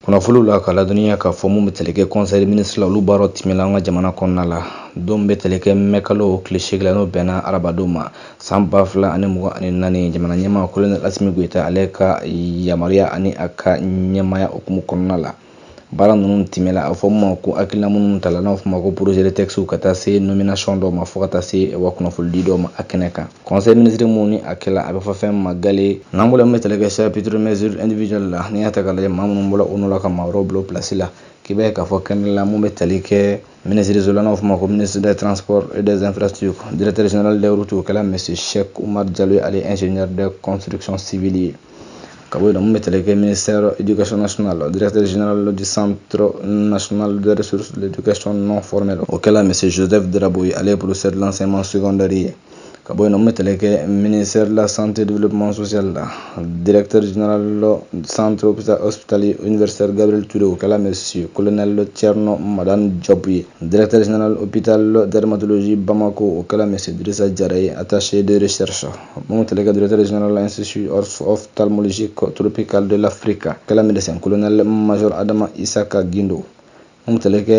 kunnafoliw la ka ladɔnniya k'a fɔ mun bɛ tali kɛ conseil des ministres la olu baaraw tɛmɛla an ka jamana kɔnɔna la don bɛ tali kɛ mɛ kalo tile seegin la n'o bɛnna arabadon ma san ba fila ani mugan ani naani jamana ɲɛmaa colonel Assimi Goïta ale ka yamaruya ani a ka ɲɛmaya hukumu kɔnɔna la baara ninnu tɛmɛla a fɔ mun ma ko hakilina minnu tala n'a fɔ ma ko projet de textes ka taa se nomination dɔw ma fo ka taa se wa kunnafolidi dɔw ma a kɛnɛ kan Conseil ministre mun ni a kɛla a bɛ fɔ fɛn ma gale n'an bolo min bɛ tali kɛ chapitre mesure individuelle la n'i y'a ta k'a lajɛ maa minnu bɔra o nɔ la ka maa wɛrɛw bila o place la k'i b'a ye k'a fɔ kɛnɛ la mun bɛ tali kɛ minisiriso la n'a fɔ ma ko ministre des transports et des infrastructures directeur général des routes o kɛla monsieur Cheikh Oumar Diallo ye ale ingénieur de construction civile ye ka bɔ yen nɔ mun bɛ tali kɛ ministère éducation nationale directeur général du centre national de ressources de l'éducation non formelle o kɛla monsieur Joseph Drabo ye ale ye professeur de l'enseignement secondaire ye ka bɔ yen nɔ mun bɛ tali kɛ ministère de la santé développement social la directeur général du centre hospitalier universitaire Gabriel Touré o kɛla monsieur colonel Thierno Madane Diop ye directeur général hôpital de dermatologie Bamako o kɛla monsieur Drissa Diarra ye attaché de recherche mun bɛ tali kɛ directeur général de l'institut ophtalmologique tropical de l'Afrique kɛla médecin colonel major Adama Issaka Guindo mun bɛ tali kɛ